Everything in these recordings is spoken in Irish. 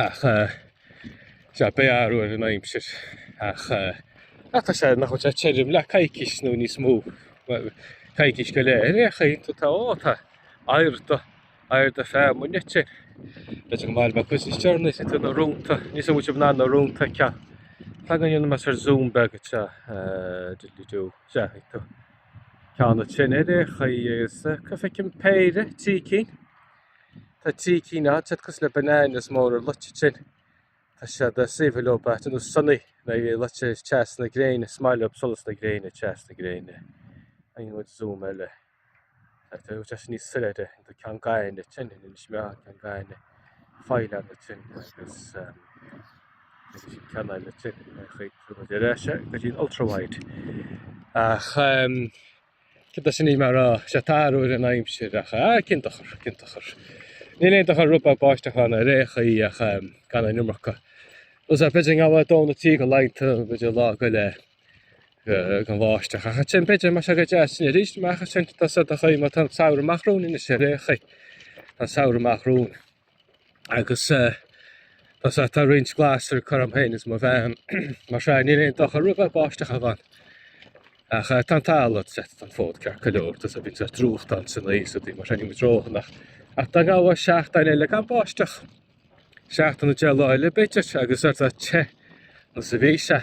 ach sea, beidh athrú ar an aimsir ach tá sé, nach bhfuil sé tirim le coicís nó níos mó, coicís go leith ar aon chaoi tá tá, ó tá aer do, aer do feamainn aici, b'fhéidir go mairfidh mé cuid níos deireanaí sa tú na rónta, níl a fhios an bhfuil sibh in ann na rónta a ceann, tá go ndéanfaidh mé sórt zoom beag a sea, diddly do, sea, ag tú ceann ansin ar aon chaoi agus go bhfeicim péire, trí cinn. Tá trí cinn ann, siad cosúil le bananas móra luite ansin. Tá siad saibhir leo bata nó sonnaí nó luite ag teas na gréine, is maith leo solas na gréine, teas na gréine. An bhfuil zoom eile? Tá tú ag teas níos soiléire, tá ceann gaine ansin, an is mé an ceann gaine, feileann ansin agus sin ceann eile ansin, chuig tú go dtí ar ais, go dtí an ultrawide. Ach. Cé go sin é, mar sin tá athrú ar an aimsir ach ah, cén dochar, cén dochar. Níl aon dochar rud beag báisteach ann ar aon chaoi ach gan an iomarca. Nó is b'fhéidir go ngabhfadh dhó nó trí de laethanta, b'fhéidir lá go leith gan bháisteach. Ach ansin b'fhéidir go mbeadh sé go deas sin arís amach ansin tá sé do chuid má tá an samhradh amach romhainn anois ar aon chaoi. Tá an samhradh amach romhainn. agus tá tá roinnt glasraí curtha agam féin is mo bhean mar sin níl aon dochar rud beag báisteach a bheith ann ach tá an talamh is an fód ceart go leor tusa bhíonn sé drúcht ann san aois a bhí mar sin níl muid ródhona ach dá ngabhfadh seachtain eile gan báisteach seachtain nó deich lá eile b'fhéidir agus ar tá te nó is a bhí sé.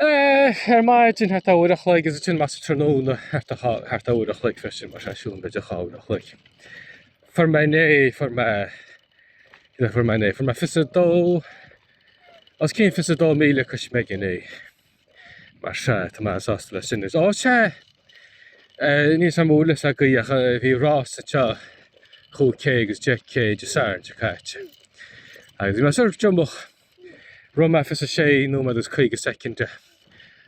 Eh, ar maidin thart ar uair a chloig, is ansin más tráthnóna thart ar chá- thart ar uair a chloig freisin, mar sin siúl b'fhéidir dhá uair a chloig. Fuair mé inné, fuair mé, cad a fuair mé inné? Fuair mé fiche a dó, os cionn fiche a dó míle coisméig inné. Mar sin, tá mé sásta leis sin. Is ó sea, eh, níl a fhios agam an bhfuil a fhios agaibh ach eh, bhí rás anseo chúig k agus deich k Dé Sathairn seo caite. Agus bhí mé sórt díomách Rith mé 26 nóiméad is 50 soicind.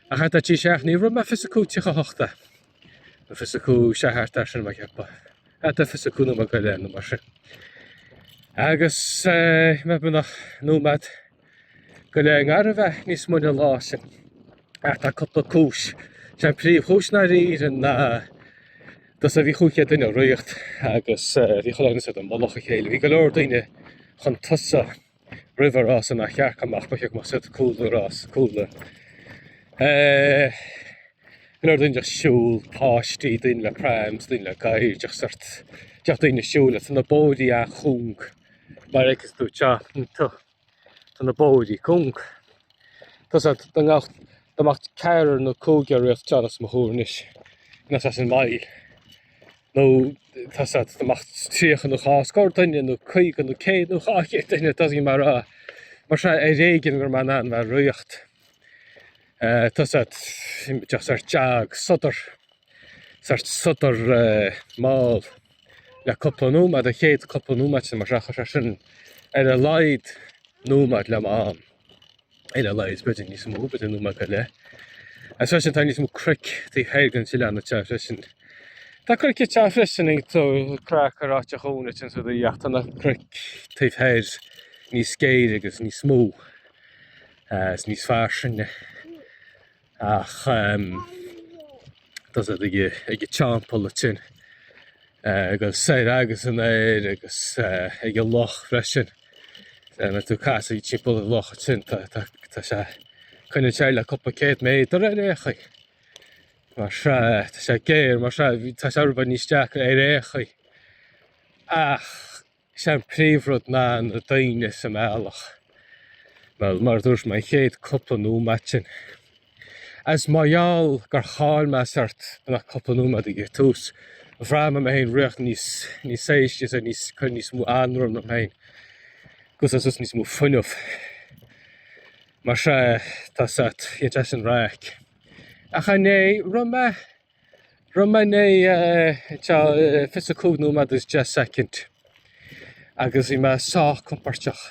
Ach trí seachtainí roimhe 25 tríocha 8 é. Nó 25 sé thart air sin mé ag ceapadh. Atá 25 nóiméad go leith nó mar sin. Agus eh, mé beagnach nóiméad go leith gar a bheith níos moille an lá sin. Ach tá cúpla cúis. Sé an phríomhchúis ná riar ná dos a bhí chúig chéad duine ag ritheacht agus eh, bhí chuile dhuine ar mhullach a chéile. Bhí go leor daoine chun tosaigh. roimh an rás nár cheart a mbeith, ba cheart go mbeadh siad cúl an rás cúla. Eh, go leor daoine ag siúl, páistí, daoine le prams, daoine le gadhair, deich sórt, deich daoine ag siúl le tá na bóithrí an-chúng. Mar a fheiceas tú anseo, tá tá na bóithrí cúng. Tá sé dá mbeadh dá mbeadh ceathrar nó cúigear ag ritheacht as mo thúr anois, inas as an mbaile. nó tá a fhios agat dá mbeadh 30 nó dhá scór duine nó 50 nó 100 nó 200 duine, it doesn't matter, mar seo ar éigean go raibh mé in ann a bheith ag ritheacht. Eh, tá a fhios agat sórt jog sodar, sórt sodar eh, mall le cúpla nóiméad, an chéad cúpla nóiméad sin mar seo, chuir sé sin ar a laghad nóiméad le m'am. ar a laghad b'fhéidir níos mó b'fhéidir nóiméad go leith. Agus freisin tá níos mó cnoic taobh thoir den sileán ag teacht freisin. Tá cnoic ag teacht freisin ag tú craic ar áit a chónait an sudaí ach tá na cnoic taobh thoir níos géire agus níos mó agus níos fairsinge. Ach tá a fhios agat ag an teampall sin agus soir agus aniar agus ag an loch freisin. Nuair atá tú ag casadh timpeall an locha sin tá sé i gcoinne an aird le cúpla céad méadar ar aon chaoi. Mar sea tá sé géar mar sea tá sé rud beag níos deacra ar aon chaoi. Ach Is é an príomhrud ná na daoine sa mbealach. Bhuel, mar a dúirt mé, an chéad cúpla nóiméad sin. Agus mar gheall gur chaill mé sórt na cúpla nóiméad ag an tús, bhraith mé mé féin ag ritheacht níos, níos aistí, is é níos, cur níos mó anró orm féin agus ag úsáid níos mó fuinneamh. Mar sea, tá sórt, bhí an teist sin raic. Ach an é, rith mé, Rith mé é fiche is a cúig nóiméad is deich soicind agus bhí mé sách compóirteach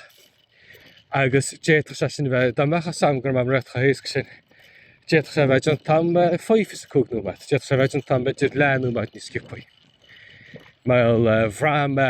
agus d'fhéadfadh sé sin bheith, dá mbeadh a fhios agam go raibh mé ag ritheacht chomh héasca sin, d'fhéadfadh sé bheith déanta agam faoi fiche is a cúig nóiméad, d'fhéadfadh sé bheith déanta agam b'fhéidir leathnóiméad níos sciobthaí. Bhuel bhraith mé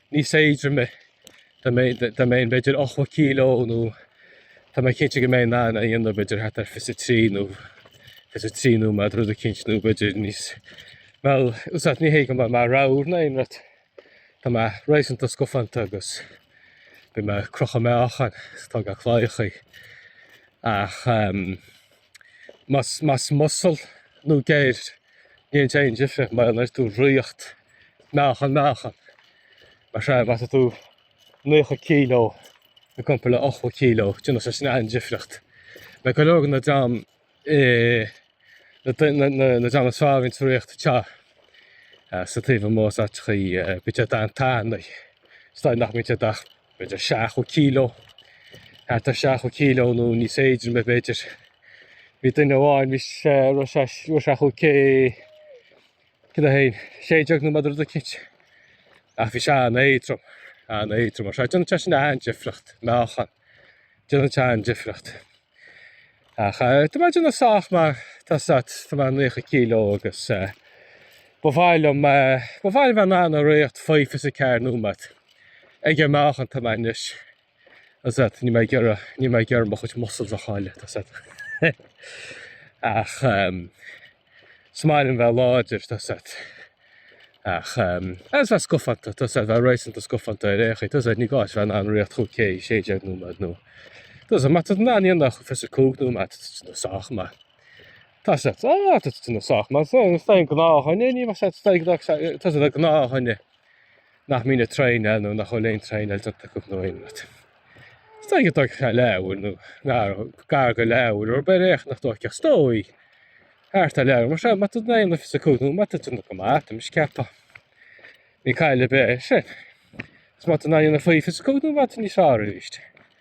níos éadroime dá mbeinn b'fhéidir ochtó kilo nó tá mé cinnte go mbeinn in ann é a dhéanamh b'fhéidir thart ar 23 nó 23 nóiméad rud éicint nó b'fhéidir níos bhuel tá a fhios agat ní hé go bhfuil mé ramhar ná aon rud tá mé réasúnta scafánta agus bíonn mé ag crochadh meáchan is ag tógáil claíochaí ach ehm, Más muscle nó geir, ní dhéanann sé aon difríocht mar nuair atá tú ag ritheacht meáchan meáchan, mar seo é, má tá tú 90 kg i gcomparáid le 80 kg, déanann sé sin an-difríocht. Mar go leor de na dream na dream is fearr a bhíonn ag ritheacht tá a fhios agat taobh amuigh is áiteachaí bíonn siad an-tanaí, is dóigh nach mbíonn siad ach b'fhéidir seachtó kilo, thart ar seachtó kilo nó níos éadroime b'fhéidir. Bhí duine amháin bhí sé ro sé ro seachadh cé cé a hain sé déag nóiméad rud éicint ach bhí sé an-éadrom an-éadrom mar sin déanann sé sin an-difríocht meáchan déanann sé an-difríocht. Ach tá mé déanamh sách mar tá a fhios agat, tá mé nócha kilo agus ba mhaith liom, ba mhaith liom bheith in ann a riocht faoi fiche is a ceathair nóiméad ag an meáchan atá mé anois. Tá a fhios agat, níl mé ag iarraidh, níl mé ag iarraidh mo chuid muscles a chailleadh, tá a fhios agat. Ach. Is maith liom bheith láidir, tosaigh, ach agus bheith scofanta, tosaigh, bheith réasúnta scofanta ar aon chaoi, tosaigh, ní gá bheith in ann riocht chomh cé 16 nóiméad nó tosaigh, má tá in ann dhéanamh chomh 25 nóiméad, tá tú sách maith. Tá sé á tá tú sách maith, tá an gnáth dhuine, ní mar sé tá an gnáth, tá an gnáth dhuine. nach mbíonn na traein eile nó nach bhfuil aon traein eile tugtha acu nó aon rud. Is dóigh go dtóigfeadh sé leabhar nó gar gar go leabhar nó beidh éachtaí nach dtóigfeadh is dóigh thart ar leabhar mar seo. Má tá duine ionfhas acu nó má tá duine go maith orm is ceapfá ní caill ar bith é sin. Is má tá duine ionfhaífeas acu nó má tá níos fearr arís.